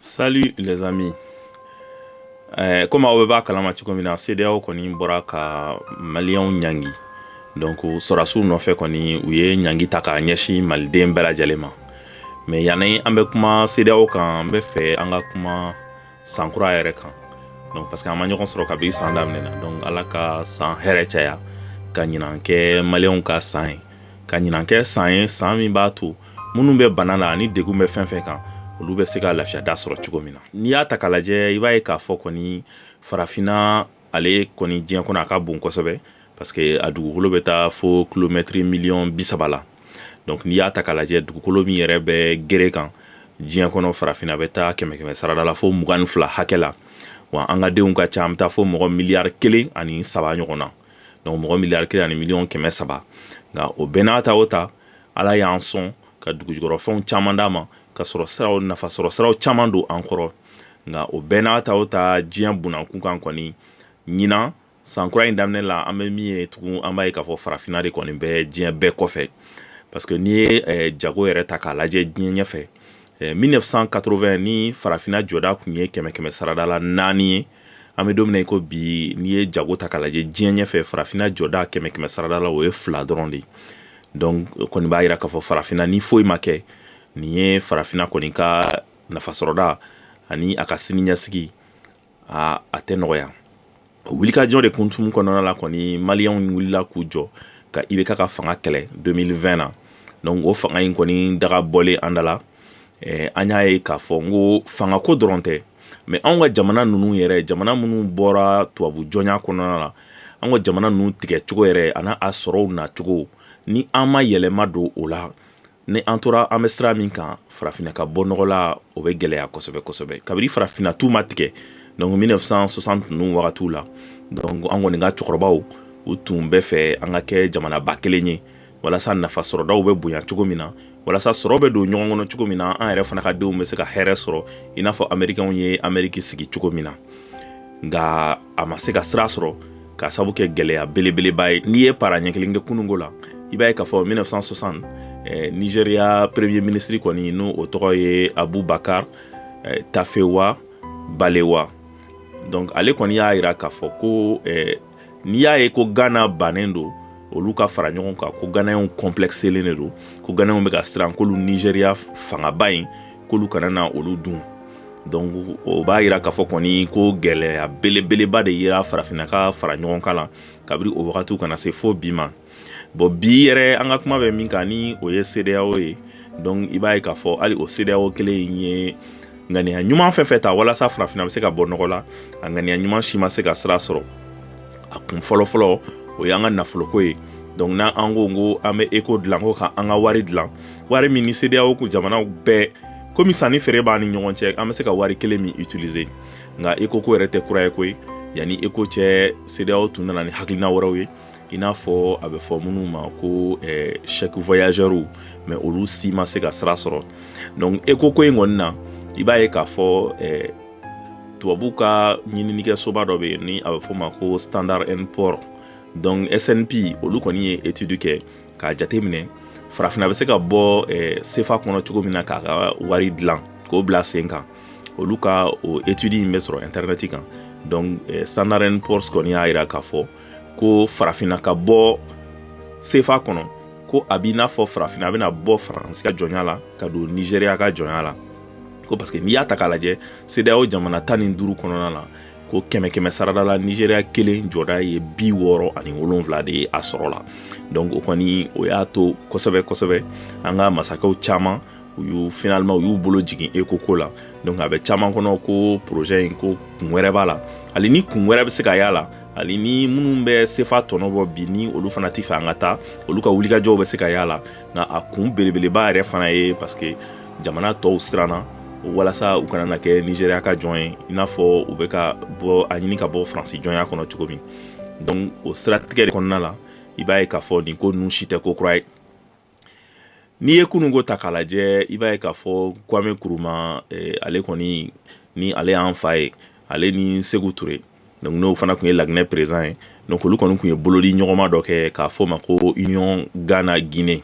Salut les amis. Eh, comme aw bɛɛ b'a kalama cogo min na CEDEAO kɔni bɔra ka maliyɛnw ɲangi donc sɔrɔdasiw nɔfɛ kɔni u ye ɲangi ta k'a ɲɛsin maliden bɛɛ lajɛlen ma mais yanni an bɛ kuma CEDEAO kan n bɛ fɛ an ka kuma san kura yɛrɛ kan donc parce que an ma ɲɔgɔn sɔrɔ kabini san daminɛ na donc ala ka san hɛrɛ caya ka ɲinan kɛ maliyɛnw ka san ye ka ɲinan kɛ san ye san min b'a to minnu bɛ bana la ani degun bɛ fɛn fɛn kan olu bɛ se ka lafiyada sɔrɔ cogo min na n'i y'a ta k'a lajɛ i b'a ye k'a fɔ kɔni farafinna ale kɔni diɲɛ kɔnɔ a ka bon kosɛbɛ parce que a dugukolo bɛ taa fo kilomɛtiri miliyɔn bi saba la donc n'i y'a ta k'a lajɛ dugukolo min yɛrɛ bɛ gere kan diɲɛ kɔnɔ farafinna bɛ taa kɛmɛ kɛmɛ sarada la fo mugan ni fila hakɛ la wa an ka denw ka ca an bɛ taa fo mɔgɔ miliyari kelen ani saba ɲɔgɔn na donc mɔgɔ miliyari kelen ani miliyɔn kɛmɛ saba nka o bɛɛ n'a ta o ta ala y'an sɔn ka dugujukɔrɔfɛnw caman d'an ma ka sɔrɔ siraw nafa sɔrɔ siraw caman don an kɔrɔ nka o bɛɛ n'a ta o ta diɲɛ bunakun kan kɔni ɲinan san kura in daminɛ la an bɛ min ye tugun an b'a ye k'a fɔ farafinna de kɔni bɛ diɲɛ bɛɛ kɔfɛ parce que n'i ye eh, jago yɛrɛ ta k'a lajɛ diɲɛ ɲɛfɛ 1980 eh, ni farafinna jɔda tun ye kɛmɛ kɛmɛ sarada la naani ye an bɛ don min na i ko bi n'i ye jago ta k'a lajɛ diɲɛ ɲɛfɛ farafinna jɔda kɛmɛ kɛmɛ sarada la o ye fila dɔrɔn de ye donc o kɔni b'a jira k'a fɔ farafinna ni foyi ma kɛ nin ye farafinna kɔni ka nafasɔrɔda ani a ka siniɲɛsigi aa a tɛ nɔgɔya o wulikajɔ de hukumu kɔnɔna la kɔni maliyɛnw wulila k'u jɔ ka IBK ka fanga kɛlɛ 2020 na donc o fanga in kɔni daga bɔlen an da la eh, an y'a ye k'a fɔ n ko fangako dɔrɔn tɛ mais anw ka jamana ninnu yɛrɛ jamana minnu bɔra tubabu jɔnya kɔnɔna la an ka jamana ninnu tigɛcogo yɛrɛ ani a sɔrɔw nacogo ni an ma yɛlɛma don o la ni an tora an bɛ sira min kan farafinna ka bɔ nɔgɔ la o bɛ gɛlɛya kosɛbɛ kosɛbɛ kabini farafinna tun ma tigɛ donc 1960 ninnu wagatiw la donc an kɔni ka cɛkɔrɔbaw u tun bɛ fɛ an ka kɛ jamanaba kelen ye walasa nafa sɔrɔdaw bɛ bonya cogo min na walasa sɔrɔ bɛ don ɲɔgɔn kɔnɔ cogo min na an yɛrɛ fana ka denw bɛ se ka hɛrɛ sɔrɔ i n'a fɔ amerikɛnw ye ameriki sigi cogo min na nka a ma se ka sira sɔrɔ ka sabu kɛ gɛlɛya belebeleba ye n'i ye para ɲɛ kelen kɛ kununko la i b'a ye k'a fɔ 1960 eh, nigeria premier ministre kɔni ni o tɔgɔ ye abubakar eh, tafewa balewa donc ale kɔni y'a yira k'a fɔ ko eh, n'i y'a ye ko gana bannen don olu ka fara ɲɔgɔn kan ko ganayɛnw complexelen de don ko ganayɛnw bɛ ka siran k'olu nizeriya fangaba in k'olu kana na olu dun donc o b'a yira k'a fɔ kɔni ko gɛlɛya belebeleba de yera farafinna ka fara ɲɔgɔn kan la kabiri o wagatiw ka na se fo bi ma bon bi yɛrɛ an ka kuma bɛ min kan ni o ye sedeyawo ye donc i b'a ye k'a fɔ hali o sedeyawo kelen in ye ŋaniya ɲuman fɛn fɛn ta walasa farafina bɛ se ka bɔ nɔgɔ la a ŋaniya ɲuman si ma se ka sira sɔrɔ a kun fɔlɔfɔlɔ o y'an ka nafoloko ye donc n'an an ko ko an bɛ eko dilan ko ka an ka wari dilan wari min ni sedeyawo kɔnɔ jamanaw bɛɛ komi sanni feere b'an ni ɲɔgɔn cɛ an bɛ se ka wari kelen min utiliser nka eko ko yɛrɛ tɛ kura ye koyi yanni eko cɛ sedeyawo tun nana ni hakilina wɛrɛw ye i n'a fɔ a bɛ fɔ minnu ma ko chèque voyageurs mais olu si ma se ka sira sɔrɔ donc eko ko in kɔni na i b'a ye k'a fɔ tubabu ka ɲininikɛsoba dɔ bɛ yen ni a bɛ fɔ o ma ko standard and poor donc SNP olu kɔni ye étude kɛ k'a jateminɛ farafinna bɛ se ka bɔ eh, sefa kɔnɔ cogo min na k'a ka wari dilan k'o bila sen kan olu ka o étude in bɛ sɔrɔ internet kan donc eh, standard and poor's kɔni y'a jira k'a fɔ ko farafinna ka bɔ sefa kɔnɔ ko a b'i n'a fɔ farafinna bɛna bɔ faransi ka jɔnya la ka don nizeriya ka jɔnya la ko parce que n'i y'a ta k'a lajɛ sedeyao jamana tan ni duuru kɔnɔna la ko kɛmɛ kɛmɛ sarada la nizeriya kelen jɔda ye bi wɔɔrɔ ani wolonwula de ye a sɔrɔ la donc o kɔni o y'a to kosɛbɛ kosɛbɛ an ka masakɛw caman u y'u finalement u y'u bolo jigin eko ko la donc a bɛ caman kɔnɔ ko projet in ko kun wɛrɛ b'a la hali ni kun wɛrɛ bɛ se ka y'a la hali ni minnu bɛ sefa tɔnɔ bɔ bi ni olu fana tɛ fɛ an ka taa olu ka wulikajɔw bɛ se ka y'a la nka a kun belebeleba yɛrɛ fana ye parce que jamana tɔw siranna walasa u kana na kɛ nigeriya ka jɔn ye i n'a fɔ u bɛ ka bɔ a ɲini ka bɔ faransi jɔnya kɔnɔ cogo min donc o siratigɛ de kɔnɔna la i b'a ye k'a fɔ nin ko ninnu si tɛ ko kura ye N'i ye kunun ko ta k'a lajɛ i b'a ye k'a fɔ kwame nkrumah ale kɔni ni ale y'an fa ye ale ni seku ture donc n'o fana tun ye laginɛ président ye donc olu kɔni tun ye bolodiɲɔgɔnma dɔ kɛ k'a fɔ o ma ko union gana guinée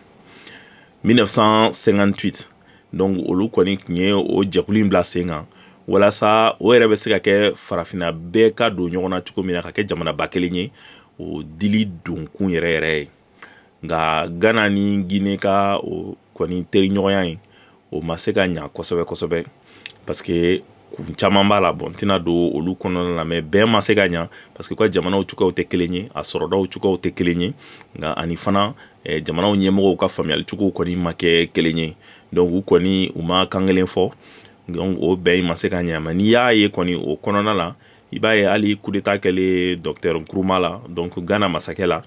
mille neuf cent cinquante-huit donc olu kɔni tun ye o jɛkulu in bila sen kan walasa o yɛrɛ bɛ se ka kɛ farafinna bɛɛ ka don ɲɔgɔn na cogo min na ka kɛ jamanaba kelen ye o dili donkun yɛrɛ yɛrɛ ye nka gana ni guinée ka o kɔni teriɲɔgɔnya in o ma se ka ɲa kosɛbɛ kosɛbɛ parce que kun caman b'a la bon n tɛna don olu kɔnɔna la mais bɛn ma se ka ɲa parce que u ka jamanaw cogoyaw tɛ kelen ye a sɔrɔdaw cogoyaw tɛ kelen ye nka ani fana jamanaw ɲɛmɔgɔw ka faamuyalicogow kɔni ma kɛ kelen ye donc u kɔni u ma kan kelen fɔ donc o bɛn in ma se ka ɲa mais n'i y'a ye kɔni o kɔnɔna la i b'a ye hali coup d'état kɛlen docteur nkrumah la donc gana masakɛ la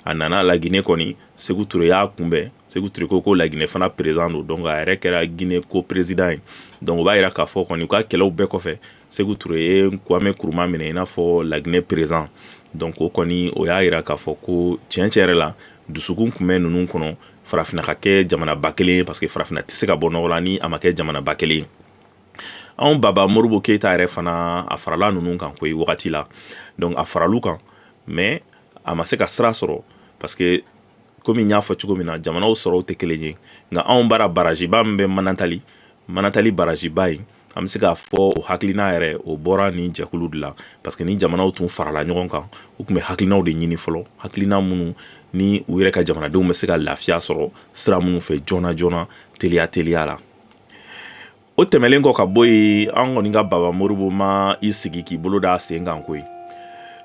a nana laginɛ kɔni sékou touré y'a kunbɛn sékou touré ko laginɛ fana président don donc a yɛrɛ kɛra ginɛ co-président ye donc o b'a jira k'a fɔ kɔni u ka kɛlɛw bɛɛ kɔfɛ sékou touré ye kwame nkrumah minɛ i n'a fɔ laginɛ président donc o kɔni o y'a jira k'a fɔ ko tiɲɛ tiɲɛ yɛrɛ la dusukun tun bɛ ninnu kɔnɔ farafinna ka kɛ jamanaba kelen ye parce que farafinna tɛ se ka bɔ nɔgɔ la ni a ma kɛ jamanaba kelen anw baba moribo keyita yɛrɛ fana a farala ninnu kan koyi wagati la donc a faral'u kan mais a ma se ka sira sɔrɔ parce que komi n y'a fɔ cogo min na jamanaw sɔrɔw tɛ kelen ye nka anw bara baraziba min bɛ manantali manantali baraziba ye an bɛ se k'a fɔ o hakilina yɛrɛ o bɔra nin jɛkulu de la parce que ni jamanaw tun farala ɲɔgɔn kan u tun bɛ hakilinaw de ɲini fɔlɔ hakilina minnu ni u yɛrɛ ka jamanadenw bɛ se ka lafiya sɔrɔ sira minnu fɛ joona joona teliya teliya la o tɛmɛlen kɔ ka bɔ yen an kɔni ka baba moribo ma i sigi k'i bolo da sen kan koyi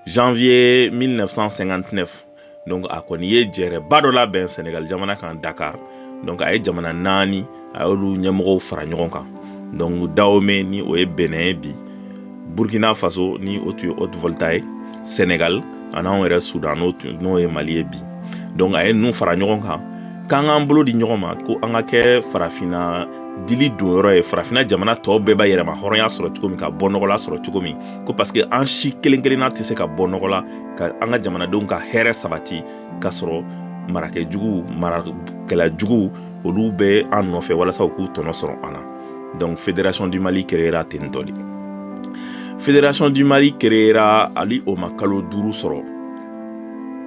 janvier 1959 donc a kɔni ye jɛrɛba dɔ labɛn sénégal jamana kan dakar donc a ye jamana naani a y'olu ɲɛmɔgɔw fara ɲɔgɔn kan donc dahomey ni o ye bénin ye bi burkina faso ni o tun ye haute volta ye sénégal ani anw yɛrɛ sudan n'o ye mali ye bi donc a ye ninnu fara ɲɔgɔn kan k'an k'an bolo di ɲɔgɔn ma ko an ka kɛ farafinna dili don yɔrɔ ye farafinna jamana tɔw bɛɛ b'a yɛrɛmahɔrɔnya sɔrɔ cogo min ka bɔnɔgɔla sɔrɔ cogo min ko parce que an si kelen kelenna tɛ se ka bɔ nɔgɔ la ka an ka jamanadenw ka hɛrɛ sabati ka sɔrɔ marakɛ jugu marakɛla jugu olu bɛ an nɔfɛ walasa u k'u tɔnɔ sɔrɔ an na donc fédération du mali créera ten tɔ de fédération du mali créera hali o ma kalo duuru sɔrɔ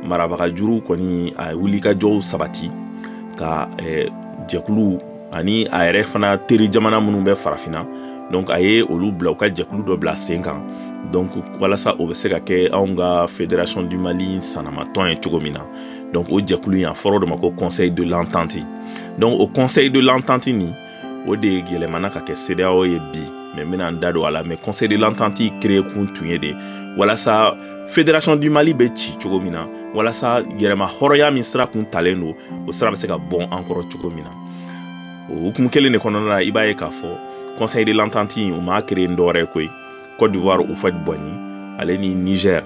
marabaga jugu kɔni a wulikajɔw sabati ka eh, jɛkulu ani a yɛrɛ fana teri jamana minnu bɛ farafinna donc a ye olu bila u ka jɛkulu dɔ bila sen kan donc walasa o bɛ se ka kɛ anw ka fédération du mali sanamatɔn ye cogo min na donc o jɛkulu in a fɔra o de ma ko conseil de l'entente donc o conseil de l'entente nin o de yɛlɛmana ka kɛ CEDEAO ye bi mais n bɛna n da don a la mais conseil de l'entente créé kun tun ye de walasa fédération du mali bɛ ci cogo min na walasa yɛrɛmahɔrɔnya min sira kun talen don o sira bɛ se ka bɔn an kɔrɔ cogo min na o hukumu kelen de kɔnɔna la i b'a ye k'a fɔ conseil de l'entente o ma créé ni dɔwɛrɛ ye koyi Côte d'Ivoire Houphouët Boigny ale ni Niger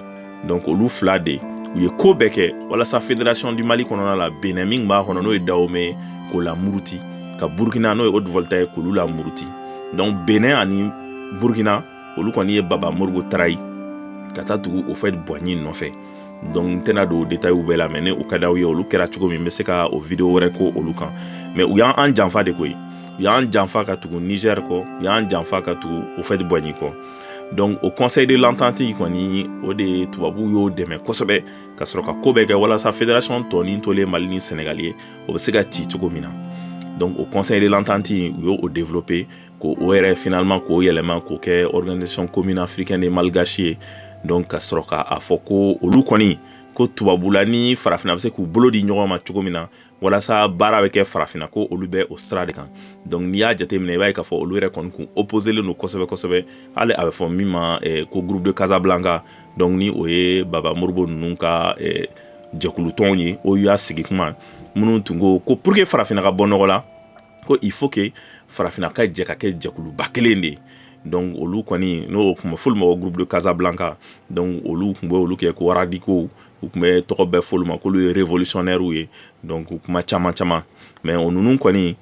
donc olu fila de u ye ko bɛɛ kɛ walasa fédération du Mali kɔnɔna la Benin min b'a kɔnɔ n'o ye Dahomey ye k'o lamuruti ka Burkina n'o ye Haute Volta ye k'olu lamuruti donc Benin ani Burkina olu kɔni ye Baba Moribo trahi ka taa tugu Houphouët Boigny nɔfɛ donc n tɛna don détails bɛɛ la mais ni u ka d'aw ye olu kɛra cogo min n bɛ se ka o vidéo wɛrɛ ko olu kan mais u y'an janfa de koyi u y'an janfa ka tugu Niger kɔ u y'an janfa ka tugu Houphouët-Boigny kɔ donc o conseil de l'entente kɔni o de tubabuw y'o dɛmɛ kosɛbɛ ka sɔrɔ ka ko bɛɛ kɛ walasa fédération tɔnin tolen mali ni sɛnɛgali ye o bɛ se ka ci cogo min na donc o conseil de l'entente u y'o développer k'o yɛrɛ finalement k'o yɛlɛma k'o kɛ organisation commune africaine et malgache ye donc ka sɔrɔ ka a fɔ ko olu kɔni ko tubabula ni farafina bɛ se k'u bolo di ɲɔgɔn ma cogo min na walasa baara bɛ kɛ farafina ko olu bɛ o sira de kan donc n'i y'a jateminɛ i b'a ye k'a fɔ olu yɛrɛ kɔni kun opposelen don kosɛbɛ kosɛbɛ hali a bɛ fɔ min ma eh, ko groupe de casablanca donc ni o ye baba Modibo ninnu ka eh, jɛkulutɔnw ye o y'a sigi kuma min u tun ko pour que farafina ka bɔ nɔgɔ la ko il faut que farafinna ka jɛ ka kɛ jɛkuluba kelen de ye donc olu kɔni n'o tun bɛ f'olu ma ko groupe de Casablanca donc olu tun bɛ olu kɛ ko radicaux u tun bɛ tɔgɔ bɛɛ f'olu ma k'olu ye révolutionnaires ye donc kuma caman caman mais o ninnu kɔni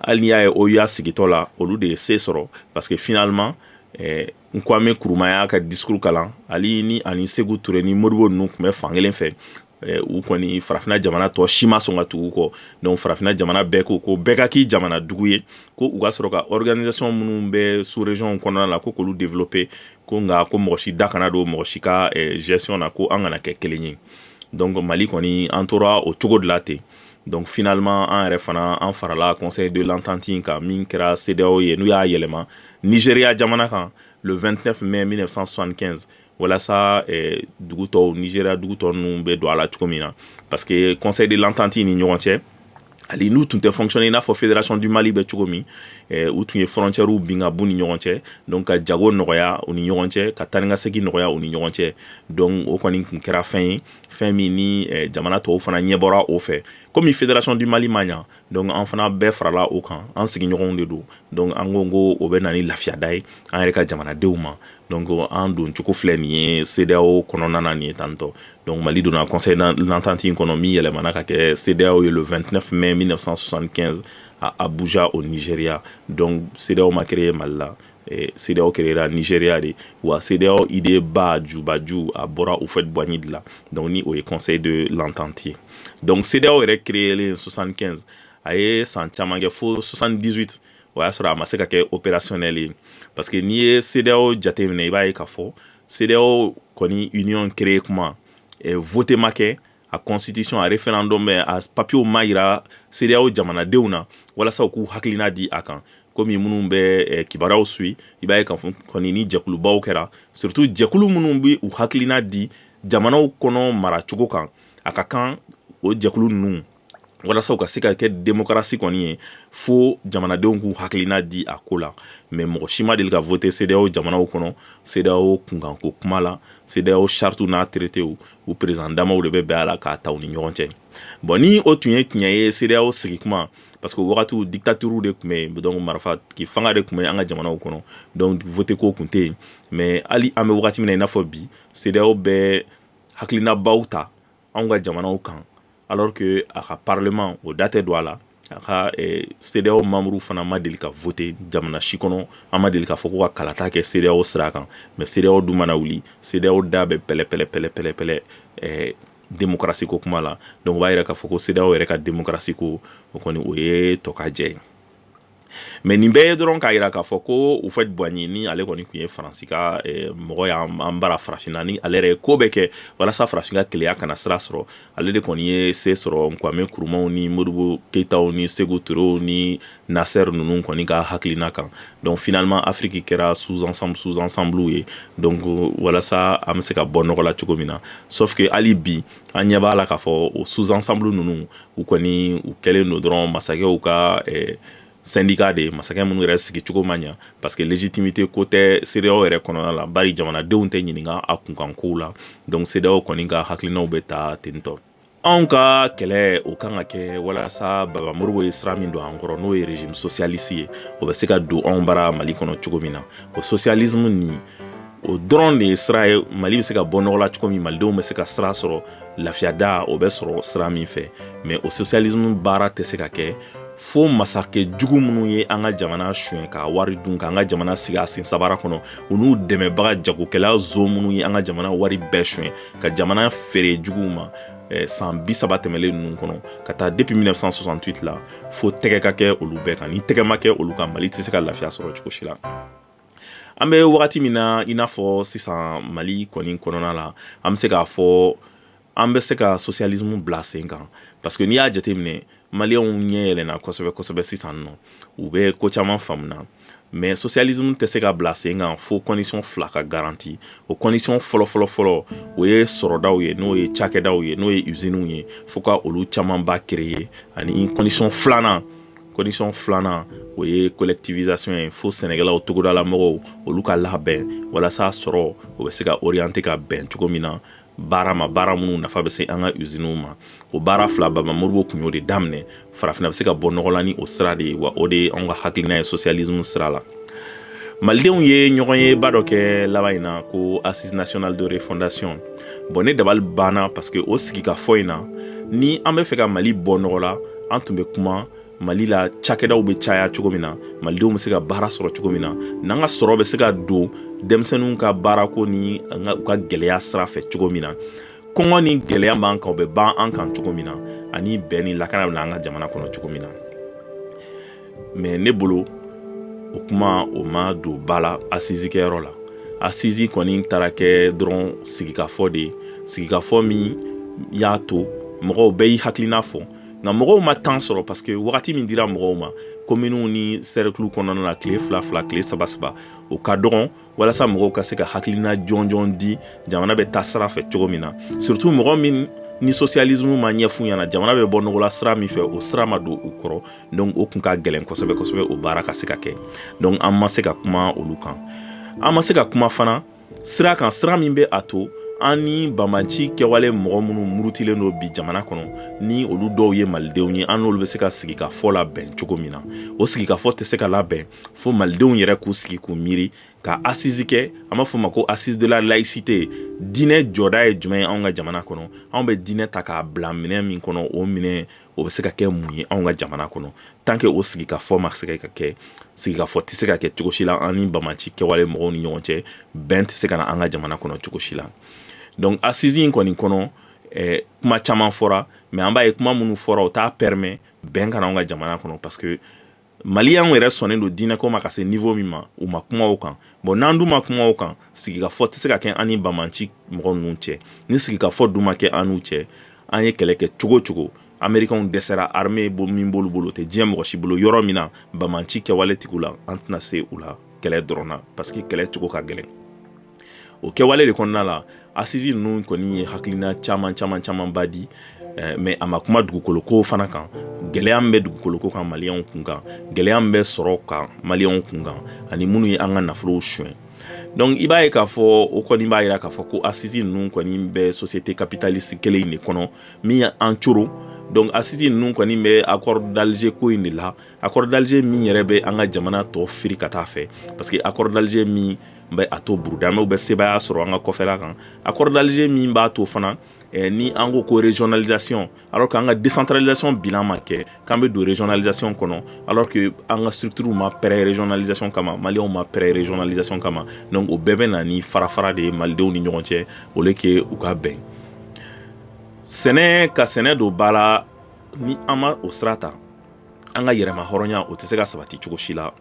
hali n'i y'a ye OUA sigitɔ la olu de ye se sɔrɔ parce que finalement eh, Kwame Nkrumah y'a ka discours kalan ale ni ani Sékou Touré ni Modibo ninnu tun bɛ fan kelen fɛ u kɔni farafinna jamana tɔ si ma sɔn ka tugu kɔ donc farafinna jamana bɛɛ ko ko bɛɛ ka k'i jamana dugu ye ko u ka sɔrɔ ka organisation minnu bɛ sous-région kɔnɔna la ko k'olu développer ko nka ko mɔgɔ si da kana don mɔgɔ si ka gestion na ko an kana kɛ kelen ye donc Mali kɔni an tora o cogo de la ten donc finalement an yɛrɛ fana an farala conseil de l'entente in kan min kɛra CEDEAO ye n'u y'a yɛlɛma Nigeria jamana kan le 29 mai 1975 walasa eh, dugu tɔw Nigeria dugu tɔ ninnu bɛ don a la cogo min na parce que conseil de l'entente ni ɲɔgɔn cɛ hali n'u tun tɛ fonctionner i n'a fɔ fédération du mali bɛ cogo min eh, u tun ye frontières bin ka b'u ni ɲɔgɔn cɛ donc ka jago nɔgɔya u ni ɲɔgɔn cɛ ka taa ni ka segin nɔgɔya u ni ɲɔgɔn cɛ donc o kɔni tun kɛra fɛn ye fɛn min ni eh, jamana tɔw fana ɲɛbɔra o fɛ komi fédération du mali ma ɲa donc an fana bɛɛ farala o kan an sigiɲɔgɔnw de don donc an ko ko o bɛ na ni lafiyada ye an yɛrɛ ka jamanadenw ma donc an don cogo filɛ nin ye CEDEAO kɔnɔna na nin ye tan tɔ donc Mali donna conseil de l'entente in kɔnɔ min yɛlɛmana ka kɛ CEDEAO ye le 29 mai 1975 à Abuja au Nigeria donc CEDEAO ma créer mali la CEDEAO créera Nigeria de wa CEDEAO idée ba jubaju a bɔra Houphouët-Boigny de la donc ni o ye conseil de l'entente ye donc CEDEAO yɛrɛ créelen 75 a ye san caman kɛ fo 78 o y'a sɔrɔ a ma se ka kɛ opérationnel ye parce que n'i ye CEDEAO jateminɛ i b'a ye k'a fɔ CEDEAO kɔni union créer kuma vote ma kɛ a constitution a referendum a papiyew ma yira CEDEAO jamanadenw na walasa u k'u hakilina di a kan komi minnu bɛ eh, kibaruyaw suit i b'a ye k'a fɔ kɔni ni jɛkulubaw kɛra surtout jɛkulu minnu bɛ u hakilina di jamanaw kɔnɔ maracogo kan a ka kan o jɛkulu ninnu walasa u ka se ka kɛ demokarasi kɔni ye fo jamanadenw k'u hakilina di a ko la mais mɔgɔ si ma deli ka voter CEDEAO jamanaw kɔnɔ CEDEAO kunkanko kuma la CEDEAO chartiw n'a traitéw u président damaw de bɛ bɛn a la k'a ta u ni ɲɔgɔn cɛ bon ni o tun ye tiɲɛ ye CEDEAO sigi kuma parce que wagatiw dictature de tun bɛ yen donc marifa fanga de tun bɛ an ka jamanaw kɔnɔ donc voter ko tun tɛ yen mais hali an bɛ wagati min na i n'a fɔ bi CEDEAO bɛ hakilinabaw ta anw ka jamanaw kan alors que a ka parlement o da tɛ don a la a ka eh, CEDEAO membre fana ma deli ka voter jamana si kɔnɔ an ma deli k'a fɔ ko ka kalata kɛ CEDEAO sira kan mais CEDEAO dun mana wuli CEDEAO da bɛ pɛlɛ pɛlɛ pɛlɛ pɛlɛ pɛlɛ eh, démocratie ko kuma la donc o b'a yira k'a fɔ ko CEDEAO yɛrɛ ka démocratie ko o kɔni o ye tɔkajɛ ye mais nin bɛɛ ye dɔrɔn k'a yira k'a fɔ ko Houphouët-Boigny ni ale kɔni tun ye faransi ka eh, mɔgɔ y'an bara farafinna ni ale yɛrɛ ye ko bɛɛ kɛ walasa farafin ka kelenya kana sira sɔrɔ ale de kɔni ye se sɔrɔ Kwame Nkrumahw ni Modibo Keyitaw ni Sékou Touréw ni Nasser ninnu kɔni ka hakilina kan donc finalement afiriki kɛra sous ensemble sous ensemble ye donc walasa an bɛ se ka bɔ nɔgɔ la cogo min na sauf que hali bi an ɲɛ b'a la k'a fɔ o sous ensemble ninnu u kɔni u kɛlen don dɔrɔn masakɛw ka syndicat de ye masakɛ minnu yɛrɛ sigi cogo ma ɲa parce que légitimité ko tɛ CEDEAO yɛrɛ kɔnɔna la bari jamanadenw tɛ ɲininka a kunkankow la donc CEDEAO kɔni ka hakilinaw bɛ ta tentɔ anw ka kɛlɛ o kan ka kɛ walasa baba Modibo ye sira min don an kɔrɔ n'o ye régime socialiste ye o bɛ se ka don anw bara mali kɔnɔ cogo min na o socialisme nin o dɔrɔn de ye sira ye mali bɛ se ka bɔ nɔgɔ la cogo min malidenw bɛ se ka sira sɔrɔ lafiya da o bɛ sɔrɔ sira min fɛ mais o socialisme baara tɛ se ka kɛ fo masakɛ jugu minnu ye an ka jamana suɲɛ ka wari dun k'an ka jamana sigi a sen sabara kɔnɔ u n'u dɛmɛbaga jagokɛla zo minnu ye an ka jamana wari bɛɛ suɲɛ ka jamana feere juguw ma eh, san bi saba tɛmɛlen ninnu kɔnɔ ka taa depuis 1968 la fo tɛgɛ ka kɛ olu bɛɛ kan ni tɛgɛ ma kɛ olu kan mali tɛ se ka lafiya sɔrɔ cogo si la an bɛ wagati min na i n'a fɔ sisan mali kɔni kɔnɔna la an bɛ se k'a fɔ an bɛ se ka socialisme bila sen kan parce que n'i y'a jateminɛ Malienw ɲɛ yɛlɛna kosɛbɛ kosɛbɛ sisan nɔ u bɛ ko caman faamu na mais socialisme tɛ se ka bila sen kan fo condition fila ka garanti o condition fɔlɔfɔlɔfɔlɔ o ye sɔrɔdaw ye n'o ye cakɛdaw ye n'o ye usinew ye fo ka olu camanba créer ani condition filanan Condition filanan o ye collectivisation ye fo sɛnɛkɛlaw togodala mɔgɔw olu ka labɛn walasa sɔrɔ o bɛ se ka orienter ka bɛn cogo min na baara ma baara minnu nafa bɛ se an ka usinew ma o baara fila baba Modibo tun y'o de daminɛ farafinna bɛ se ka bɔ nɔgɔ la ni o sira de ye wa o de ye an ka hakilina ye socialisme sira la malidenw ye ɲɔgɔnye ba dɔ kɛ laban in na ko assise nationale de refondation bon ne dabali banna parce que o sigikafɔ in na ni an bɛ fɛ ka mali bɔ nɔgɔ la an tun bɛ kuma mali la cakɛdaw bɛ caya cogo min na malidenw bɛ se ka baara sɔrɔ cogo min na n'an ka sɔrɔ bɛ se ka don denmisɛnninw ka baarako ni u ka gɛlɛya sira fɛ cogo min na kɔngɔ ni gɛlɛya b'an kan u bɛ ban an kan cogo min na ani bɛn ni lakana bɛ na an ka jamana kɔnɔ cogo min na mais ne bolo o kuma o ma don ba la assise kɛyɔrɔ la assise kɔni taara kɛ dɔrɔn sigikafɔ de ye sigikafɔ min y'a to mɔgɔw bɛɛ y'i hakilina fɔ nka mɔgɔw ma temps sɔrɔ parce que wagati min dira mɔgɔw ma kominiw ni sɛrɛkiliw kɔnɔna na tile fila fila tile saba saba o ka dɔgɔn walasa mɔgɔw ka se ka hakilina jɔnjɔn di jamana bɛ taa sira fɛ cogo min na surtout mɔgɔ min ni socialisme ma ɲɛf'u ɲɛna jamana bɛ bɔ nɔgɔ la sira min fɛ o sira ma don u kɔrɔ donc o kun ka gɛlɛn kosɛbɛ kosɛbɛ o baara ka se ka kɛ donc an ma se ka kuma olu kan an ma se ka kuma fana sira kan sira min bɛ a to an ni banbanci kɛwale mɔgɔ minnu murutilen don bi jamana kɔnɔ ni olu dɔw ye malidenw ye an n'olu bɛ se ka sigikafɔ labɛn cogo min na o sigikafɔ tɛ se ka labɛn fo malidenw yɛrɛ k'u sigi k'u miiri ka assise kɛ an b'a fɔ ma ko assise de la laïcité diinɛ jɔda ye jumɛn ye anw ka jamana kɔnɔ anw bɛ diinɛ ta k'a bila minɛn min kɔnɔ o minɛn o bɛ se ka kɛ mun ye anw ka jamana kɔnɔ tant que o sigikafɔ ma se ka kɛ sigikafɔ tɛ se ka kɛ cogo si la an ni banbanci kɛwale mɔgɔw ni ɲɔgɔn cɛ bɛn tɛ se ka na an ka jamana kɔnɔ cogo si la donc assise in kɔni kɔnɔ eh, kuma caman fɔra mais an b'a ye kuma minnu fɔra o t'a permet bɛn ka na anw ka jamana kɔnɔ parce que maliyɛnw yɛrɛ sɔnnen don diinɛko ma ka se niveau min ma u ma kuma o kan bon n'an dun ma kuma o kan sigikafɔ tɛ se ka kɛ an ni banbanci mɔgɔ ninnu cɛ ni sigikafɔ dun ma kɛ an n'u cɛ an ye kɛlɛ kɛ cogo cogo amerikanw dɛsɛra armée ba min b'olu bolo tɛ diɲɛ mɔgɔ si bolo yɔrɔ min na banbanci kɛwale tigiw la an tɛna se u la kɛlɛ dɔrɔn na parce que kɛlɛ cogo ka gɛlɛn o kɛwale de kɔnɔna la assise ninnu kɔni ye hakilina caman caman camanba di eh, mais a ma kuma dugukoloko fana kan gɛlɛya min bɛ dugukoloko kan maliyɛnw kun kan gɛlɛya min bɛ sɔrɔ kan maliyɛnw kun kan ani minnu ye an ka nafolow suɲɛ donc i b'a ye k'a fɔ o kɔni b'a jira k'a fɔ ko assise ninnu kɔni bɛ société capitaliste kelen in de kɔnɔ min ye an coron donc assise ninnu kɔni bɛ accord d'alger ko in de la accord d'alger min yɛrɛ bɛ an ka jamana tɔ firi ka taa fɛ parce que accord d'alger min n bɛ a to burudamɛw bɛ sebaaya sɔrɔ an ka kɔfɛla kan accord d'Alger min b'a to fana eh, ni an ko ko régionalisation alors que an ka décentralisation bilan ma kɛ k'an bɛ don régionalisation kɔnɔ alors que an ka structure ma prêt régionalisation kama maliyɛnw ma prêt régionalisation kama donc o bɛɛ bɛ na ni farafara de ye malidenw ni ɲɔgɔn cɛ au lieu que u ka bɛn sɛnɛ ka sɛnɛ don ba la ni an ma o sira ta an ka yɛrɛma hɔrɔnya o tɛ se ka sabati cogo si la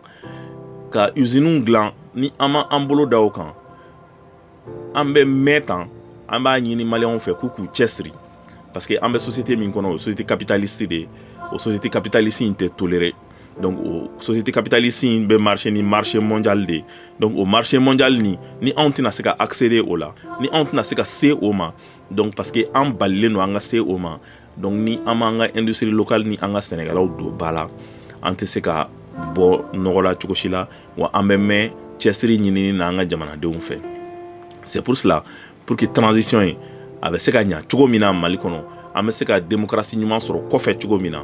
ka usines dilan ni an ma an bolo da o kan an bɛ mɛn tan an b'a ɲini maliyɛnw fɛ k'u k'u cɛsiri parce que an bɛ société min kɔnɔ o société capitaliste de o société capitaliste in tɛ tolérer donc o société capitaliste in bɛ marché ni marché mondial de donc o marché mondial ni ni anw tɛna se ka accéder o la ni anw tɛna se ka se o ma donc parce que an balilen don an ka se o ma Donc ni an m'an ka industrie locale ni an ka sɛnɛkɛlaw don ba la an tɛ se ka bɔ nɔgɔ la cogo si la wa an bɛ mɛn cɛsiri ɲinini na an ka jamanadenw fɛ c'est pour cela pour que transition in a bɛ se ka ɲa cogo min na mali kɔnɔ an bɛ se ka démocratie ɲuman sɔrɔ kɔfɛ cogo min na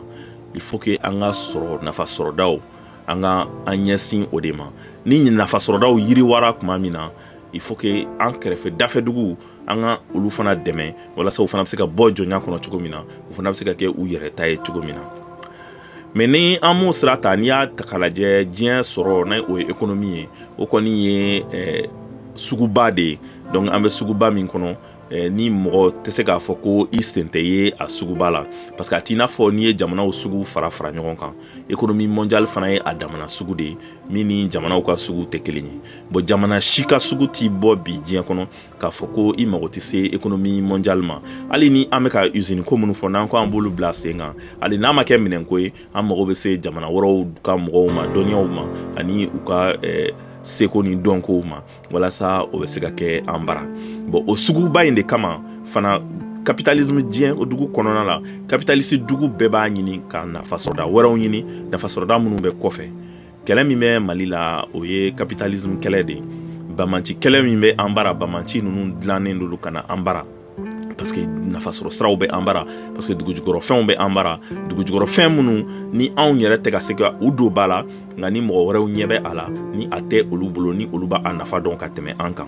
il faut que an ka sɔrɔ nafa sɔrɔdaw an ka an ɲɛsin o de ma ni nafa sɔrɔdaw yiriwara tuma min na il faut que an kɛrɛfɛ dafɛduguw an ka olu fana dɛmɛ walasa u fana bɛ se ka bɔ jɔnya kɔnɔ cogo min na u fana bɛ se ka kɛ u yɛrɛ ta ye cogo min na mais ni an m'o sira ta n'i y'a ta k'a lajɛ diɲɛ sɔrɔ ni o ye économie ye o kɔni ye eh, suguba de ye donc an bɛ suguba min kɔnɔ eh, ni mɔgɔ tɛ se k'a fɔ ko i sen tɛ ye a suguba la parce que a t'i n'a fɔ n'i ye jamanaw sugu fara fara ɲɔgɔn kan économie mondiale fana ye a damana sugu de ye min ni jamanaw ka sugu tɛ kelen ye bon jamana si ka sugu t'i bɔ bi diɲɛ kɔnɔ k'a fɔ ko i mago tɛ se économie mondiale ma hali ni an bɛ ka usine ko minnu fɔ n'an ko an b'olu bila sen kan hali n'a ma kɛ minɛnko ye an mago bɛ se jamana wɛrɛw ka mɔgɔw ma dɔnniyaw ma ani u ka eh, seko ni dɔnkow ma walasa o bɛ se ka kɛ an bara bon o suguba in de kama fana capitalisme diɲɛ o dugu kɔnɔna la capitaliste dugu bɛɛ b'a ɲini ka nafasɔrɔda wɛrɛw ɲini nafasɔrɔda minnu bɛ kɔfɛ kɛlɛ min bɛ mali la o ye capitalisme kɛlɛ de ye banbaanci kɛlɛ min bɛ an bara banbaanci ninnu dilannen don olu ka na an bara parce que nafasɔrɔ siraw bɛ an bara parce que dugujukɔrɔfɛnw bɛ an bara dugujukɔrɔfɛn minnu ni anw yɛrɛ tɛ ka se ka u don ba la nka ni mɔgɔ wɛrɛw ɲɛ bɛ a la ni a tɛ olu bolo ni olu b'a nafa dɔn ka tɛmɛ an kan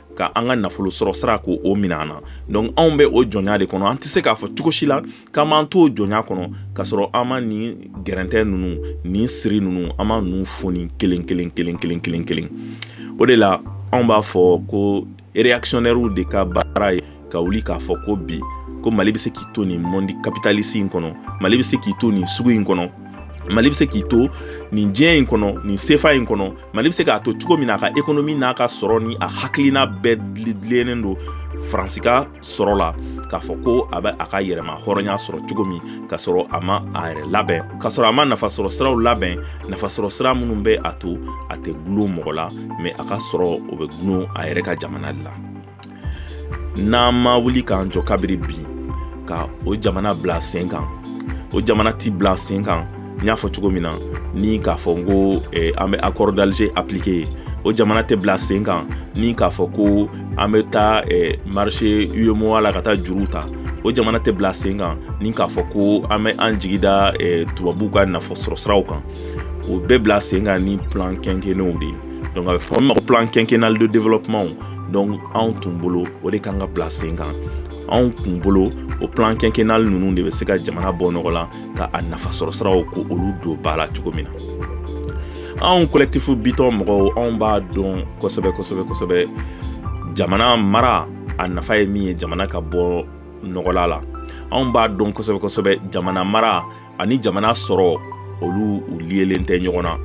ka an ka nafolo sɔrɔ sira k'o minɛ an na donc anw bɛ o jɔnya de kɔnɔ an tɛ se k'a fɔ cogo si la k'an b'an t'o jɔnya kɔnɔ k'a sɔrɔ an ma nin gɛrɛntɛ ninnu nin siri ninnu an ma ninnu foni kelen kelen kelen kelen kelen kelen o de la anw b'a fɔ ko réactionnaires de ka baara ye ka wuli k'a fɔ ko bi ko mali bɛ se k'i to nin mɔndi kapitalisi in kɔnɔ mali bɛ se k'i to nin sugu in kɔnɔ mali bɛ se k'i to nin diɲɛ in kɔnɔ nin sefa in kɔnɔ mali bɛ se k'a to cogo min na a ka ekonomi n'a ka sɔrɔ ni a hakilina bɛɛ dilennen don faransi ka sɔrɔ la k'a fɔ ko a bɛ a ka yɛrɛmahɔrɔnya sɔrɔ cogo min k'a sɔrɔ a ma a yɛrɛ labɛn k'a sɔrɔ a ma nafasɔrɔ siraw labɛn nafasɔrɔ sira minnu bɛ a to a tɛ gulon mɔgɔ la mɛ a ka sɔrɔ o bɛ gulon a yɛrɛ ka jamana de la n'an ma wuli k'an jɔ kabiri bi ka o jamana bila sen kan o jamana ti bila sen kan n y'a fɔ cogo min na ni k'a fɔ ko eh, an bɛ accord d'Alger appliquer o jamana tɛ bila sen kan ni k'a fɔ ko an bɛ taa eh, marché UEMOA la ka taa juru ta o jamana tɛ bila sen kan ni k'a fɔ ko an bɛ an jigi da eh, tubabuw ka nafasɔrɔ siraw kan o bɛ bila sen kan ni plan quinquennaux de ye donc a bɛ fɔ min ma ko plan quinquennal de développement dɔnku anw tun bolo o de ka kan ka bila sen kan anw tun bolo o plan kɛnkɛnali ninnu de bɛ se ka jamana bɔ nɔgɔ la ka a nafasɔrɔ siraw k'olu don ba la cogo min na anw kolɛkitifu bitɔn mɔgɔw anw b'a dɔn kosɛbɛ kosɛbɛ kosɛbɛ jamana mara a nafa ye min ye jamana ka bɔnɔgɔla la anw b'a dɔn kosɛbɛ kosɛbɛ jamana mara ani jamana sɔrɔ olu u liyelen tɛ ɲɔgɔn na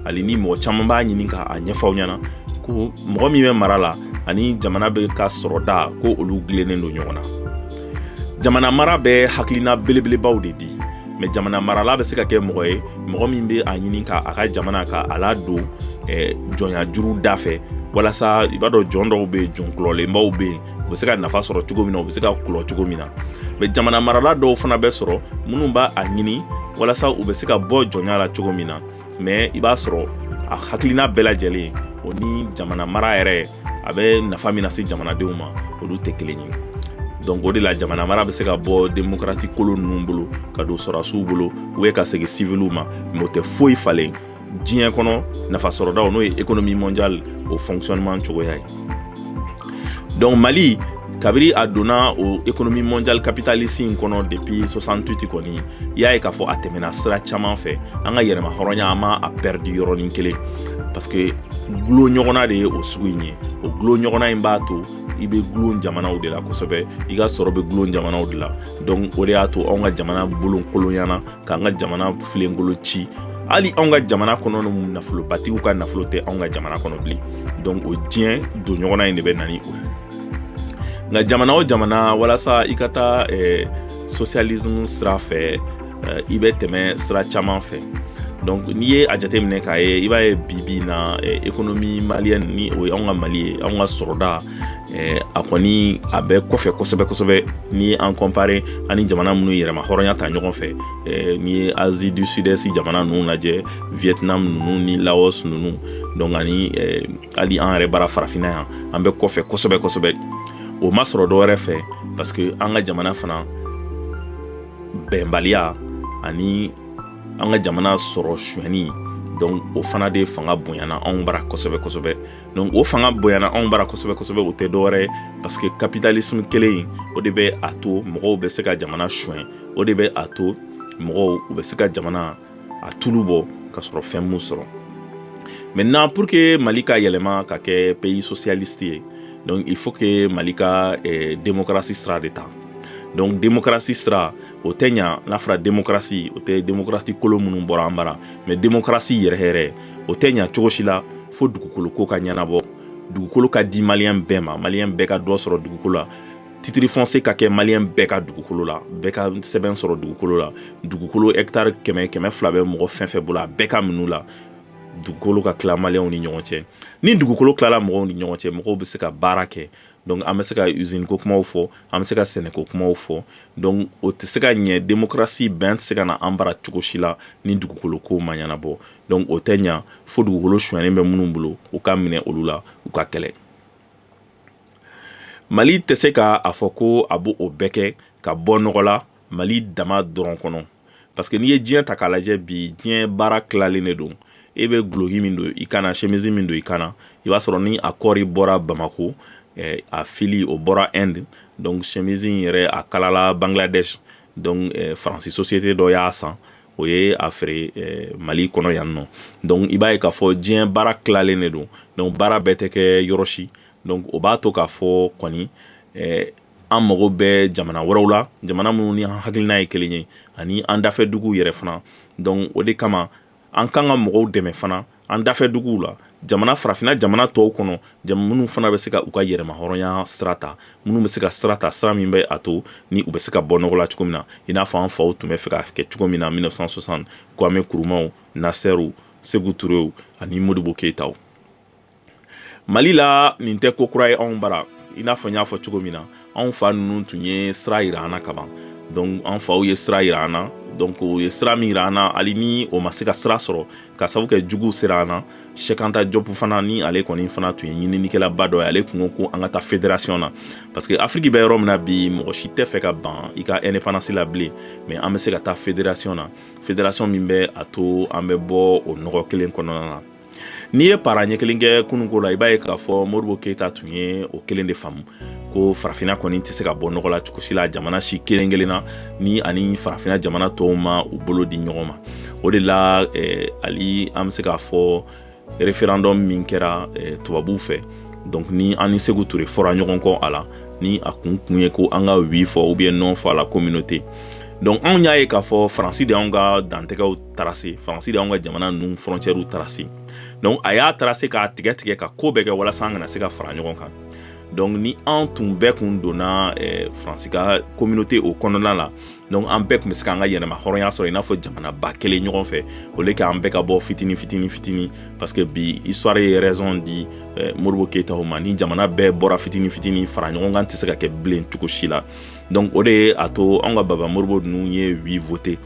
hali ni mɔgɔ caman b'a ɲini ka a ɲɛfɔ aw ɲɛna ko mɔgɔ min bɛ mara la ani jamana bɛ ka sɔrɔda ko olu dilennen don ɲɔgɔn na jamana mara bɛ hakilina belebelebaw de di mɛ jamana marala bɛ se ka kɛ mɔgɔ ye mɔgɔ min bɛ a ɲini ka a ka jamana ka a ladon eh, jɔnya juru da fɛ walasa i b'a dɔn jɔn dɔw bɛ yen jɔn kulɔlenbaw bɛ yen u bɛ se ka nafa sɔrɔ cogo min na u bɛ se ka kulɔ cogo min na mɛ jamana marala dɔw fana bɛ sɔrɔ minnu b'a a ɲini walasa u bɛ se ka bɔ jɔnya la cogo min na mɛ i b'a sɔrɔ a hakilina bɛɛ lajɛlen o ni jamana mara yɛrɛ a bɛ nafa min lase jamanadenw ma olu tɛ kelen ye donc o de la jamana mara bɛ se ka bɔ demokarati kolon ninnu bolo ka don sɔrɔdasiw bolo ou bien ka segin siviliw ma mɛ o tɛ foyi falen diɲɛ kɔnɔ nafasɔrɔdaw n'o ye économie mondiale o fonctionnement cogoya ye donc mali kabiri a donna o économie mondiale capitaliste in kɔnɔ depuis 68 kɔni i y'a ye k'a fɔ a tɛmɛna sira caman fɛ an ka yɛrɛmahɔrɔnya an ma a pɛridi yɔrɔnin kelen parce que gulon ɲɔgɔnna de ye o sugu in ye o gulon ɲɔgɔnna in b'a to i bɛ gulon jamanaw de la kosɛbɛ i ka sɔrɔ bɛ gulon jamanaw de la donc o de y'a to anw ka jamana bolokolonyana k'an ka jamana filenkolon ci hali anw ka jamana kɔnɔ ni nafolobatigiw ka nafolo tɛ anw ka jamana kɔnɔ bilen donc o diɲɛ don ɲɔgɔnna in de bɛ na ni o ye nka jamana o jamana walasa i ka taa eh, socialisme sira fɛ eh, i bɛ tɛmɛ sira caman fɛ donc n'i ye a jateminɛ k'a ye i b'a ye bi bi in na eh, économie malienne ni o ye anw ka mali ye anw ka sɔrɔda Eh, a kɔni a bɛ kɔfɛ kosɛbɛ kosɛbɛ n'i ye an comparer ani jamana minnu yɛrɛma hɔrɔnya ta ɲɔgɔn fɛ eh, n'i ye asie du sud-est jamana ninnu lajɛ vietnam ninnu ni laos ninnu donc ani eh, hali an yɛrɛ bara farafinna yan an bɛ kɔfɛ kosɛbɛ kosɛbɛ o ma sɔrɔ dɔwɛrɛ fɛ parce que an ka jamana fana bɛnbaliya ani an ka jamana sɔrɔ suɲɛni donc o fana de fanga bonyana anw bara kosɛbɛ kosɛbɛ donc o fanga bonyana anw bara kosɛbɛ kosɛbɛ o tɛ dɔwɛrɛ ye parce que capitalisme kelen in o de bɛ a to mɔgɔw bɛ se ka jamana suɲɛ o de bɛ a to mɔgɔw u bɛ se ka jamana a tulu bɔ ka sɔrɔ fɛn m'u sɔrɔ maintenant pour que mali ka yɛlɛma ka kɛ pays socialiste ye donc il faut que mali ka eh, démocratie sira de ta donc démocratie sira o tɛ ɲa n'a fɔra demokarasi o tɛ demokarasi kolon minnu bɔra an bara mais demokarasi yɛrɛ yɛrɛ o tɛ ɲa cogo si la fo dugukolo ko ka ɲɛnabɔ dugukolo ka di maliyɛn bɛɛ ma maliyɛn bɛɛ ka dɔ sɔrɔ dugukolo la titre foncier ka kɛ maliyɛn bɛɛ ka dugukolo la bɛɛ ka sɛbɛn sɔrɔ dugukolo la dugukolo hɛkitari kɛmɛ kɛmɛ fila bɛ mɔgɔ fɛn fɛn bolo a bɛɛ ka minɛ u la dugukolo ka tila maliyɛnw ni ɲɔgɔn cɛ ni dugukolo tilala mɔgɔw ni ɲɔgɔn cɛ mɔgɔw bɛ se ka baara kɛ donc an bɛ se ka usine ko kumaw fɔ an bɛ se ka sɛnɛko kumaw fɔ donc o tɛ se ka ɲɛ démocratie bɛn tɛ se ka na an bara cogo si la ni dugukolo ko ma ɲɛnabɔ donc o tɛ ɲɛ fo dugukolo suɲɛnen bɛ minnu bolo u ka minɛ olu la u ka kɛlɛ mali tɛ se k' a fɔ ko a b' o bɛɛ kɛ ka bɔ nɔgɔ la mali dama dɔrɔn kɔnɔ parce que n'i ye diɲɛ ta k'a lajɛ bi diɲɛ baara tilalen de don e bɛ guloki min don i kan na sɛmisi min don i kan na i b'a sɔrɔ ni a kɔɔri bɔra bamako eh, a fili o bɔra inde donc sɛmisi in yɛrɛ a kalala bangladesh donc eh, faransi société dɔ y'a san o ye a feere eh, mali kɔnɔ yan nɔ donc i b'a ye k'a fɔ diɲɛ baara tilalen de don donc baara bɛɛ tɛ kɛ yɔrɔ si donc o b'a to k'a fɔ kɔni eh, an mago bɛ jamana wɛrɛw la jamana minnu ni an hakilina ye kelen ye ani an dafɛ duguw yɛrɛ fana donc o de kama an kan ka mɔgɔw dɛmɛ fana an dafɛ duguw la jamana farafinna jamana tɔw kɔnɔ minnu fana bɛ se ka u ka yɛrɛma hɔrɔnya sira ta minnu bɛ se ka sira ta sira min bɛ a to ni u bɛ se ka bɔ nɔgɔ la cogo min na i n'a fɔ an faw tun bɛ fɛ k'a kɛ cogo min na mille neuf cent soixante kwame nkrumahw nasserw sékou touréw ani modibo keyitaw mali la nin tɛ ko kura ye anw bara i n'a fɔ n y'a fɔ cogo min na anw fa ninnu tun ye sira yira an na kaban donc an faw ye sira yira an na donc o ye sira min yira an na hali ni o ma se ka sira sɔrɔ ka sabu kɛ juguw sera an na cheikh anta diop fana ni ale kɔni fana tun ye ɲininikɛlaba dɔ ye ale kun ko ko an ka taa federasiyɔn na parce que afiriki bɛ yɔrɔ min na bi mɔgɔ si tɛ fɛ ka ban i ka ɛndepandansi la bilen mais an bɛ se ka taa federasiyɔn na federasiyɔn min bɛ a to an bɛ bɔ o nɔgɔ kelen kɔnɔna na N'i ye pa ɲɛ kelen kɛ kunun ko la i b'a ye k'a fɔ modibo keyita tun ye o kelen de faamu ko farafinna kɔni tɛ se ka bɔ nɔgɔ la cogo si la jamana si kelen kelen na ni ani farafinna jamana tɔw ma u bolo di ɲɔgɔn ma o de la eh, ali an bɛ se k'a fɔ référendum min kɛra eh, tubabuw fɛ donc ni an ni seku ture fɔra ɲɔgɔn kɔ a la ni a kun kun ye ko an ka oui fɔ ou bien non fɔ a la communauté donc anw y'a ye k'a fɔ faransi de y'an ka dantɛgɛw tracé faransi de y'an ka jamana ninnu frontièrew tracé donc a y'a tracé k'a tigɛ tigɛ ka ko bɛɛ kɛ walasa an kana se ka fara ɲɔgɔn kan donc ni an tun bɛɛ kun donna eh, faransi ka communauté o kɔnɔna la donc an bɛɛ tun bɛ se k'an ka yɛrɛma hɔrɔnya sɔrɔ i n'a fɔ jamana ba kelen ɲɔgɔn fɛ au lieu k'an bɛɛ ka bɔ fitini fitini fitini parce que bi histoire ye raison di eh, modibo keyita ma ni jamana bɛɛ bɔra fitini fitini fara ɲɔgɔn kan tɛ se ka kɛ bilen cogo si la donc o de ye a to an ka baba modibo ninnu ye oui voté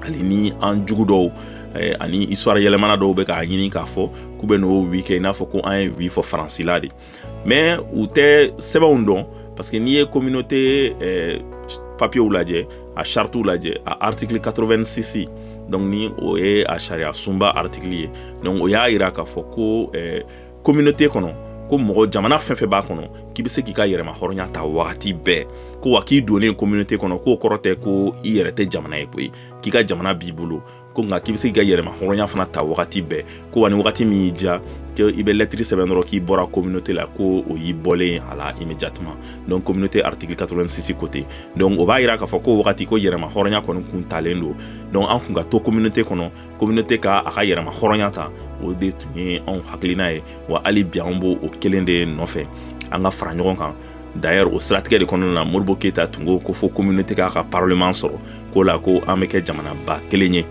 hali ni an jugu dɔw eh, ani histoire yɛlɛmana dɔw bɛ k'a ɲini k'a fɔ k'u bɛn'o oui kɛ i n'a fɔ ko an ye oui fɔ faransi la de mais u tɛ sɛbɛnw dɔn parce que n'i ye communauté eh, papiyew lajɛ a chartew lajɛ a article 86 donc ni o ye a sariya sunba article ye donc o y'a yira k'a fɔ ko eh, communauté kɔnɔ ko mɔgɔ jamana fɛn fɛn b'a kɔnɔ k'i bɛ se k'i ka yɛrɛma hɔrɔnya ta wagati bɛɛ ko wa k'i donnen communauté kɔnɔ k'o kɔrɔ tɛ ko i yɛrɛ tɛ jamana ye koyi k'i ka jamana b'i bolo ko nka k'i bɛ se k'i ka yɛrɛma hɔrɔnya fana ta wagati bɛɛ ko wa ni wagati min y'i diya ko i bɛ lɛtiri sɛbɛn dɔrɔn k'i bɔra communauté la ko o y'i bɔlen ye a la immédiatement donc communauté article 86 côté donc o b'a yira k'a fɔ ko wagati ko yɛrɛma hɔrɔnya kɔni kun talen don donc an kun ka to communauté kɔnɔ communauté ka a ka yɛrɛma hɔrɔnya ta o de tun ye anw hakilina ye wa hali bi an b'o kelen de nɔfɛ an ka fara ɲɔgɔn kan d'ailleurs o siratigɛ de kɔnɔna na modibo keyita tun ko ko fo communauté k'a ka parlement sɔrɔ k'o la ko an bɛ kɛ jamanaba kelen ye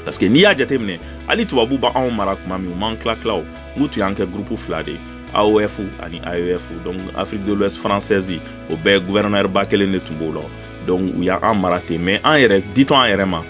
parce que n'i y'a jateminɛ hali tubabu b'anw mara tuma min u m'an tila tila o n'u tun y'an kɛ gurupu fila de ye AOF ani AEF donc Afrique de l'Ouest française o bɛɛ gouverneur ba kelen de tun b'o la donc u y'an mara ten mais an yɛrɛ ditɔ an yɛrɛ ma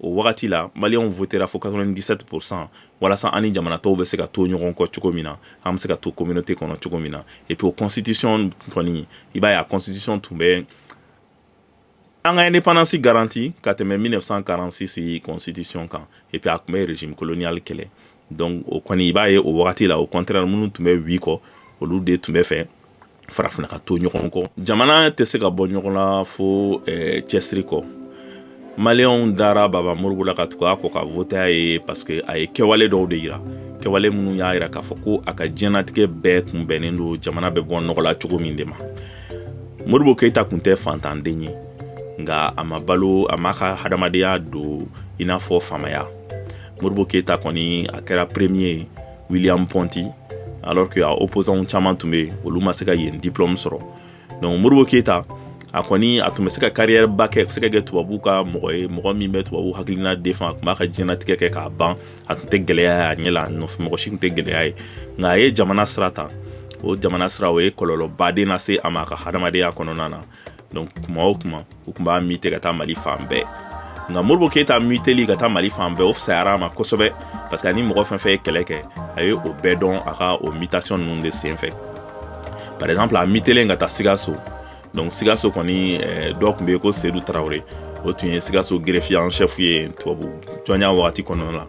o wagati la maliyɛnw votera fo 97 pourcent walasa an ni jamana tɔw bɛ se ka to ɲɔgɔn kɔ cogo min na an bɛ se ka to communauté kɔnɔ cogo min na et puis o constitution kɔni i b'a ye a constitution tun bɛ an ka indépendance garanti ka tɛmɛ 1946 constitution kan et puis a tun bɛ régime colonial kɛlɛ Donc o kɔni i b'a ye o wagati la au contraire minnu tun bɛ oui kɔ olu de tun bɛ fɛ farafinna ka to ɲɔgɔn kɔ jamana tɛ se ka bɔ nɔgɔ la fo cɛsiri kɔ maliyɛnw dara baba modibo la ka tugu a kɔ ka voter a ye parce que a ye kɛwale dɔw de jira kɛwale minnu y'a jira k'a fɔ ko a ka diɲɛnatigɛ bɛɛ tun bɛnnen don jamana bɛ bɔ nɔgɔ la cogo min de ma modibo keyita tun tɛ fantanden ye nka a ma balo a m'a ka hadamadenya don i n'a fɔ faamaya modibo keyita kɔni a kɛra premier ye william ponti alors que a opposant caman tun bɛ olu ma se ka yen diplôme sɔrɔ donc modibo keyita a kɔni a tun bɛ se ka carrière ba kɛ se ka kɛ tubabu ka mɔgɔ ye mɔgɔ min bɛ tubabu hakilina défend a tun b'a ka diɲɛnatigɛ kɛ k'a ban a tun tɛ gɛlɛya ye a ɲɛ la nɔfɛ mɔgɔ si tun tɛ gɛlɛya ye nka a ye jamana sira ta o jamana sira o ye kɔlɔlɔ ba de lase a ma a ka hadamadenya kɔnɔna na donc kuma o kuma u tun b'a mute ka taa mali fan bɛɛ nka modibo keyita muteli ka taa mali fan bɛɛ o fisayara a ma kosɛbɛ parce que ani mɔgɔ fɛn fɛn ye kɛlɛ kɛ a ye o bɛɛ dɔn a ka o mutation ninnu de sen fɛ par exemple a mutelen ka taa sikaso donc sikaso kɔni eh, dɔ tun bɛ yen ko sedu tarawele o tun ye sikaso greffier en chef ye tubabu jɔnya wagati kɔnɔna la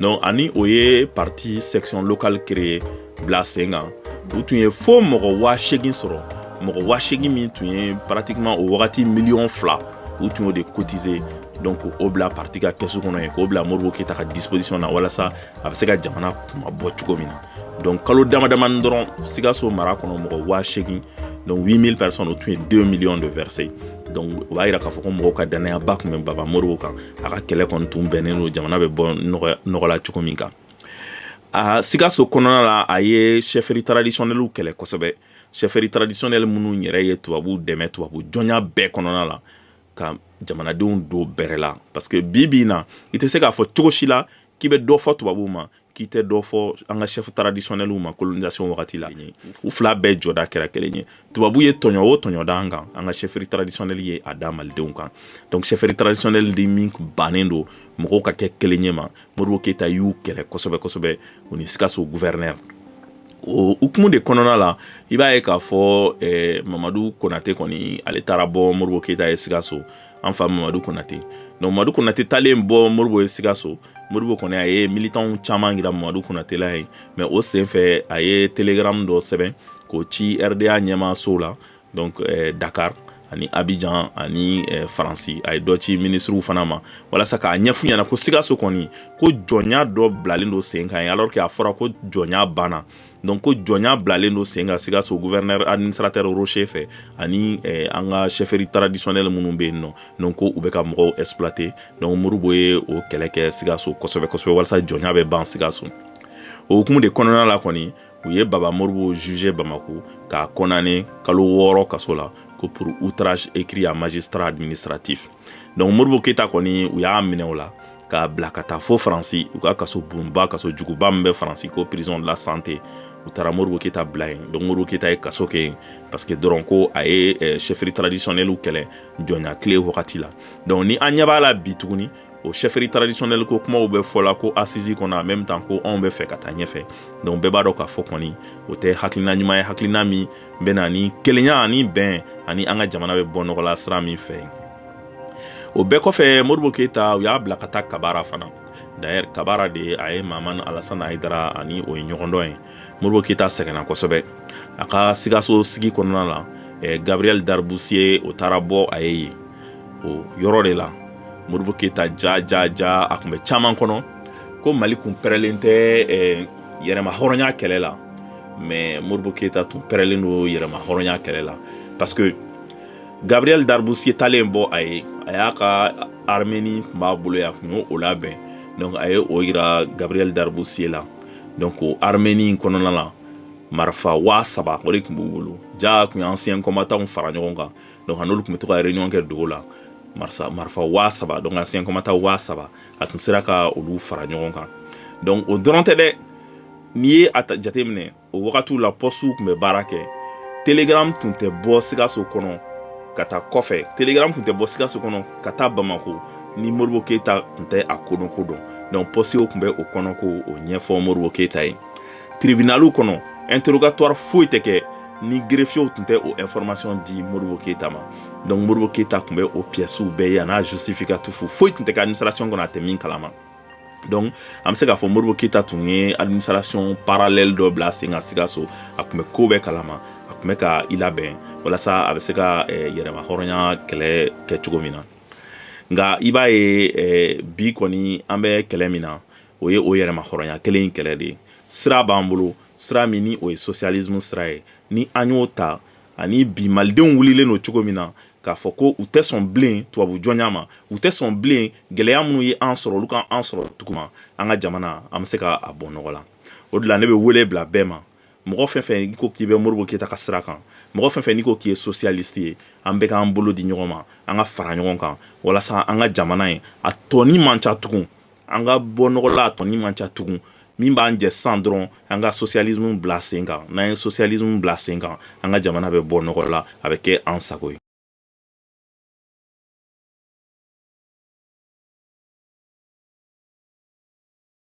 donc ani o ye parti section locale créer bila sen kan u tun ye fo mɔgɔ waa segin sɔrɔ mɔgɔ waa segin min tun ye pratiquement o wagati miliyɔn fila u tun y'o de kotize donc o bila parti ka kɛsu kɔnɔ yen k'o bila modibo keyita ka disposition na walasa a bɛ se ka jamana kunmabɔ cogo min na donc kalo damadamani dɔrɔn sikaso mara kɔnɔ mɔgɔ waa segin donc 8000 personnes o tun ye 2 millions de verser donc o b'a yira k'a fɔ ko mɔgɔw ka dannayaba tun bɛ baba modibo kan a ka kɛlɛ kɔni tun bɛnnen don jamana bɛ bɔ nɔgɔ la cogo min kan a sikaso kɔnɔna la a ye chefferie traditionnelle kɛlɛ kosɛbɛ chefferies traditionnelles minnu yɛrɛ ye tubabuw dɛmɛ tubabu jɔnya bɛɛ kɔnɔna la ka jamanadenw don bɛrɛ la parce que bi bi in na i tɛ se k'a fɔ cogo si la k'i bɛ dɔ fɔ tubabuw ma k'i tɛ dɔ fɔ an ka chefs traditionnels ma colonisation wagati la u fila bɛɛ jɔda kɛra kelen ye tubabu ye tɔɲɔ o tɔɲɔ da an kan an ka chefferie traditionnelle ye a da malidenw kan donc chefferie traditionnelle de min bannen don mɔgɔw ka kɛ kelen ye ma modibo keyita y'u kɛlɛ kosɛbɛ kosɛbɛ u ni sikaso gouverneur o hukumu de kɔnɔna la i b'a ye k'a fɔ eh, mamadu konate kɔni ale taara bɔ modibo keyita ye sikaso an fa mamadu konate donc mamadu konate taalen bɔ modibo ye sikaso modibo kɔni a ye militanw caman yira mamadu konate la yen mais o senfɛ a ye télégramme dɔ sɛbɛn k'o ci rda ɲɛmaaso la donc dakari ani abijan ani faransi a ye dɔ ci minisiriw fana ma walasa k'a ɲɛf'u ɲɛna ko sikaso kɔni ko jɔnya dɔ bilalen don sen kan yen alors que a fɔra ko jɔnya banna donc ko jɔnya bilalen don sen kan sikaso gouverneur administrateur rocher fɛ ani an ka chefferie traditionnelle minnu bɛ yen nɔ donc ko u bɛ ka mɔgɔw exploiter donc modibo ye o kɛlɛ kɛ sikaso kosɛbɛ kosɛbɛ walasa jɔnya bɛ ban sikaso o hukumu de kɔnɔna la kɔni u ye baba modibo juger bamako k'a condamner kalo wɔɔrɔ kaso la ko pour outrage écrit à magistrat administratif donc modibo keyita kɔni u y'a minɛ o la k'a bila ka taa fo faransi u ka kaso bonba kaso juguba min bɛ faransi ko prison de la santé u taara modibo keyita bila yen donc modibo keyita ye kaso kɛ yen parce que dɔrɔn ko a ye eh, chefferie traditionnelle kɛlɛ jɔnya tile wagati la donc ni an ɲɛ b'a la bi tuguni o chefferie traditionnelle ko kumaw bɛ fɔ la ko assise kɔnɔ en même temps ko anw b'a fɛ ka taa ɲɛfɛ donc bɛɛ b'a dɔn k'a fɔ kɔni o tɛ hakilina ɲuman ye hakilina min bɛ na ni kelenya ani bɛn ani an ka jamana bɛ bɔ nɔgɔ la sira min fɛ o bɛɛ kɔfɛ Modibo Keyita u y'a bila ka taa kabara fana d'ailleurs kabara de a ye Mahamane Alassane Haidara ani o ye ɲɔgɔn dɔn ye Modibo Keyita sɛgɛnna kosɛbɛ a ka sikaso sigi kɔnɔna la eh, Gabriel d'Arboussier o taara bɔ a ye yen o yɔrɔ de la Modibo Keyita ja ja ja a tun bɛ caman kɔnɔ ko mali kun pɛrɛlen tɛ eh, yɛrɛma hɔrɔnya kɛlɛ la mais Modibo Keyita tun pɛrɛlen don yɛrɛma hɔrɔnya kɛlɛ la parce que Gabriel d'Arboussier taalen bɔ a ye a y'a ka armeni tun b'a bolo ye a tun y'o labɛn donc a ye o yira Gabriel d'Arboussier la donc o armeni in kɔnɔna la marifa waa saba o de tun b'u bolo jaa a tun ye ancien combattant fara ɲɔgɔn kan donc a n'olu tun bɛ to ka réunion kɛ dogo la marifa waa saba donc ancien combattant waa saba a tun sera ka olu fara ɲɔgɔn kan donc o dɔrɔn tɛ dɛ n'i ye a jateminɛ o wagatiw la pɔsiw tun bɛ baara kɛ telegram tun tɛ bɔ sikaso kɔnɔ ka taa kɔfɛ telegram tun tɛ bɔ sikaso kɔnɔ ka taa bamako ni Modibo Keyita tun tɛ a kɔnɔ ko dɔn donc pɔsiw tun bɛ o kɔnɔ ko o ɲɛfɔ Modibo Keyita ye tribunal kɔnɔ interrogatoire foyi tɛ kɛ ni greffiers tun tɛ o information di Modibo Keyita ma donc Modibo Keyita tun bɛ o pièces bɛɛ ye a n'a justificatif foyi tun tɛ kɛ administration kɔnɔ a tɛ min kalama donc an bɛ se k'a fɔ Modibo Keyita tun ye administration parallèle dɔ bila sen kan Sikaso a tun bɛ ko bɛɛ kalama a tun bɛ ka i labɛn walasa a bɛ se ka eh, yɛrɛma hɔrɔnya kɛlɛ kɛ cogo min na nka i b'a ye eh, bi kɔni an bɛ kɛlɛ min na o ye o yɛrɛma hɔrɔnya kelen in kɛlɛ de ye sira b'an bolo sira min ni o ye sosiyalismu sira ye ni an y'o ta ani bi malidenw wulilen don cogo min na k'a fɔ ko u tɛ sɔn bilen tubabu jɔnya ma u tɛ sɔn bilen gɛlɛya minnu ye an sɔrɔ olu ka an sɔrɔ tuguma an ka jamana an bɛ se ka a bɔ nɔgɔ la o de la ne bɛ wele bila bɛɛ ma mɔgɔ fɛn fɛn n'i ko k'i bɛ Modibo Keyita ka sira kan mɔgɔ fɛn fɛn n'i ko k'i ye sosiyalisi ye an bɛɛ k'an bolo di ɲɔgɔn ma an ka fara ɲɔgɔn kan walasa an ka jamana ye a tɔnin man ca tugun an ka bɔ nɔgɔ la a tɔnin man ca tugun min b'an jɛ san dɔrɔn an ka sosiyalismu bila sen kan n'an ye sosiyalismu bila sen kan an ka jamana bɛ bɔ nɔgɔ la a bɛ kɛ an sago ye